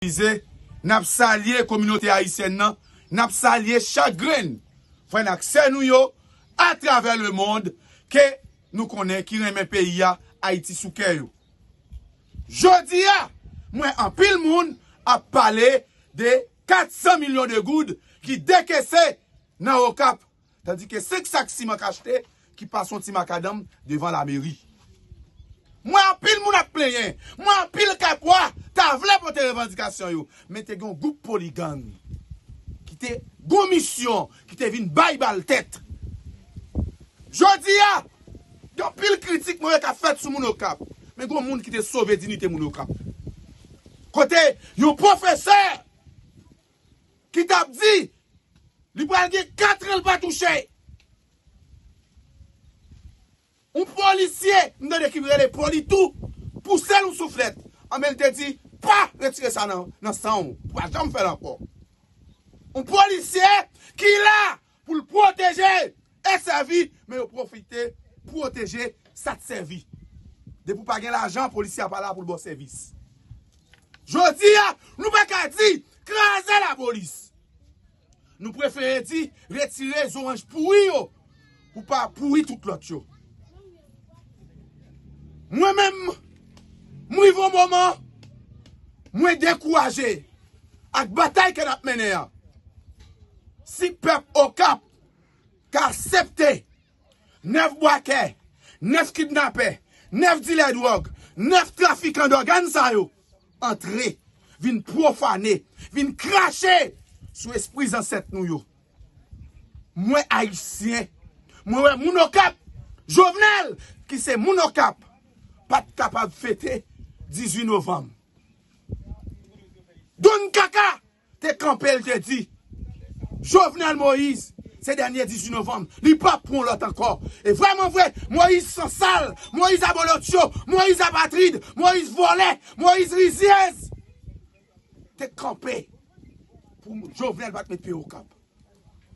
Belize, n ap salye kominote ayisyèn nan, n ap salye chak grenn frè n ak sè nou yo atravè lemond ke nou konnen ki renmen peyi a, Ayiti sou kè yo. Jodi a, m wè anpil moun ap pale de 400 milyon de goud ki dekese nan Okap. Tandike 5 sak siman k achte ki pa son ti makadanm devan lameri. M wè anpil moun ap plenyen, m wè anpil kakwa ta vle pote revandikasyon yo, men te gen yon gwoup poligang ki te gon misyon ki te vin bay bal tèt. Jodi a, gen anpil kritik mwen wè k ap fèt sou moun Okap, men gen yon moun ki te sove dinite moun Okap. Kote yon pwofesè! ki t ap di li pral gen katran l pa touche yon polisye m tande ki rele politou pouse l yon souflèt anben l te di pa retire sa nan san w ou pa janm fè l ankò yon polisye ki la Pou l pwoteje e sèvi men yo pwofite pwoteje sa t sèvi. Depi w pa gen lajan polisye a pa la pou l ba w sèvis. Jodi a nou pa ka di kraze lapolis. Nou prefere di retire zoranj pouri yo pou pa pouri tout lòt yo. Mwen menm m rive yon moman mwen dekouraje. ak batay ke nap mennen an, si pèp Okap ka aksepte 9 bwakè, 9 kidnapè, 9 dilè dwòg, 9 trafikan dògàn sa yo antre vin pwofane, vin krache sou espri zansèt nou yo. Mwen Ayisyen, mwen wè moun Okap, Jovenel ki se moun Okap pat kapab fete 18 novanm. Don Kaka te kanpe li te di Jovenel Moïse se dènye 18 novanm li pap pran lòt ankò e vrèman vre Moïse sansal Moïse abolotcho Moïse apatrid Moïse vòlè Moïse rizyèz te kanpe pou Jovenel pat met pye okap.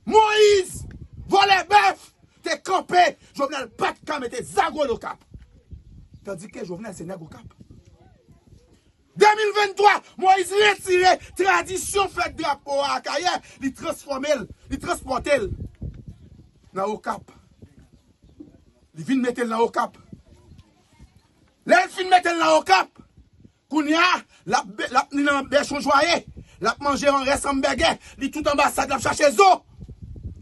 Moise vòlè bèf te kanpe jovenel pat ka mete zago l okap tandike jovenel se nèg okap 2023 moise retire tradisyon fèt drapo a akayè li transfòme l li transpòte l nan okap li vin mete l nan okap lè l fin mete l nan okap Kounya lap lap ni nan bèchon jwaye lap manje an rès anbègè li tout anbasad lap chache zo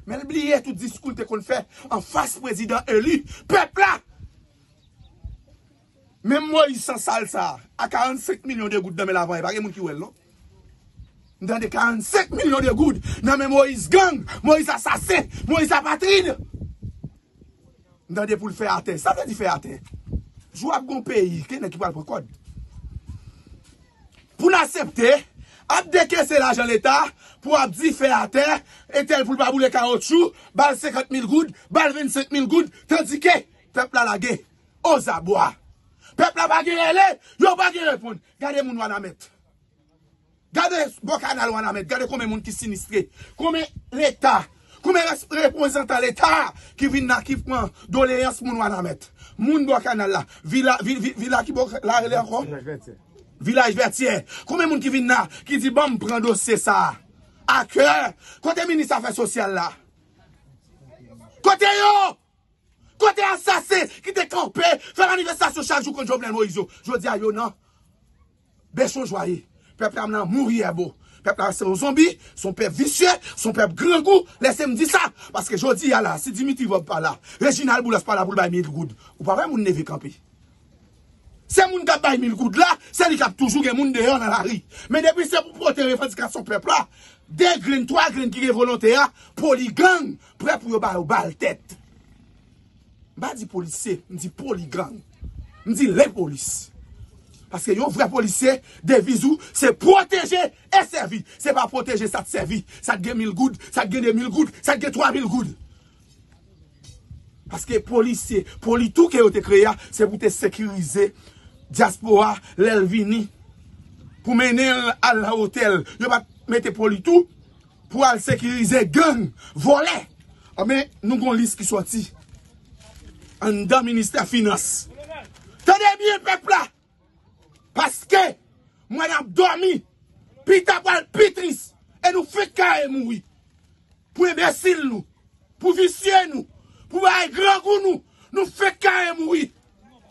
menl bliye tout diskoul te konn fè anfas prezidan eli pèp la menm moyiz san sal sa a 45 milyon de goud nan menl avan e pa gen moun ki wèl non m tande 45 milyon de goud nan men moyiz gang moyiz asasen moyiz apatrid M tande pou l fè atè. Sa vle di fè atè? Jou ap gen yon peyi kenen ki pral pran kòd. Pou n asepte ap dekese lajan leta pou ap di fè atè, entèl pou l pa boule kawotchou, ba l 50 mil goud, ba l 25 mil goud, tandike pèp la lage ozabwa. Pèp la pa gen rele, yo pa gen reponn. Gade moun Wanament. Gade bò kanal wanament gade konbyen moun ki sinistre konbyen leta konbyen reprezantan leta ki vin la ki pran doleyans moun wanament moun bò kanal la vila vila ki bò la rele ankò vilaj vètyè konbyen moun ki vin la ki di banm pran dosye sa akè kote minis afè sosyal la kote yo. Kote asasen ki te kanpe fè manifestasyon chak jou kont Jovenel Moïse yo? Jodi a yo nan bèchon jwa ye. Pèp la nan mouri èbo. Pèp la se yon zonbi, se yon pèp visye, se yon pèp grangou. Lèse m di sa, paske jodi a la si Dimitri Vorbe pa la, Reginald Boulos pa la pou l bay mil goud, ou pa wè moun leve kanpe. Se moun k ap bay mil goud la, se li k ap toujou gen moun deyò nan lari. Men depi se pou pote revandikasyon pèp la, 2 grenn, 3 grenn ki gen volonte a, poligang, Prè pou yo ba yo bal tèt. M pa di polisye, m di poligang. M di lepolis. Paske yon vrè polisye, deviz ou, se pwoteje e sèvi. Se pa pwoteje sa t sèvi. Sa t gen mil goud, sa t gen de mil goud, sa t gen twa mil goud. Paske polisye, politou ke yo te kreye a, se pou te sekirize dyaspora lè l vini. Pou mennen l al nan otèl. Yo pa t mete politou. Pou al sekirize gang, vòlè. Anben, nou gon lis ki sòti. Anndan ministè finans. Tande byen pèp la. Paske, mwen ap dòmi. Pita pral pi tris. E nou fenk kare mouri. Pou enbesil nou. Pou visye nou. Pou bagay grangou nou. Nou fenk kare mouri.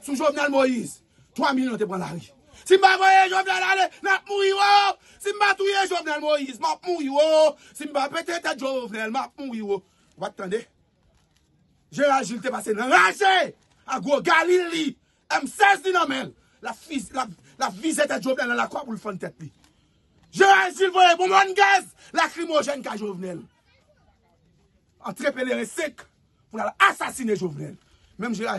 Sou Jovenel Moïse. 3 milyon te pran lari. Si m pa voye Jovenel ale, n ap mouri wo! Si m pa touye Jovenel Moïse, m ap mouri wo! Si m pa pete tèt Jovenel, m ap mouri wo! Ou pa t tande? Jeneral Jules te pase nan raje! Ak gwo galil li, M16 li nan men l, l ap vize tèt Jovenel nan lakwa pou l fann tèt li. Jeneral Jules voye bonbòn gaz lakrimojèn kay Jovenel. Antre peleren sek pou l al asasine Jovenel. Menm jeneral.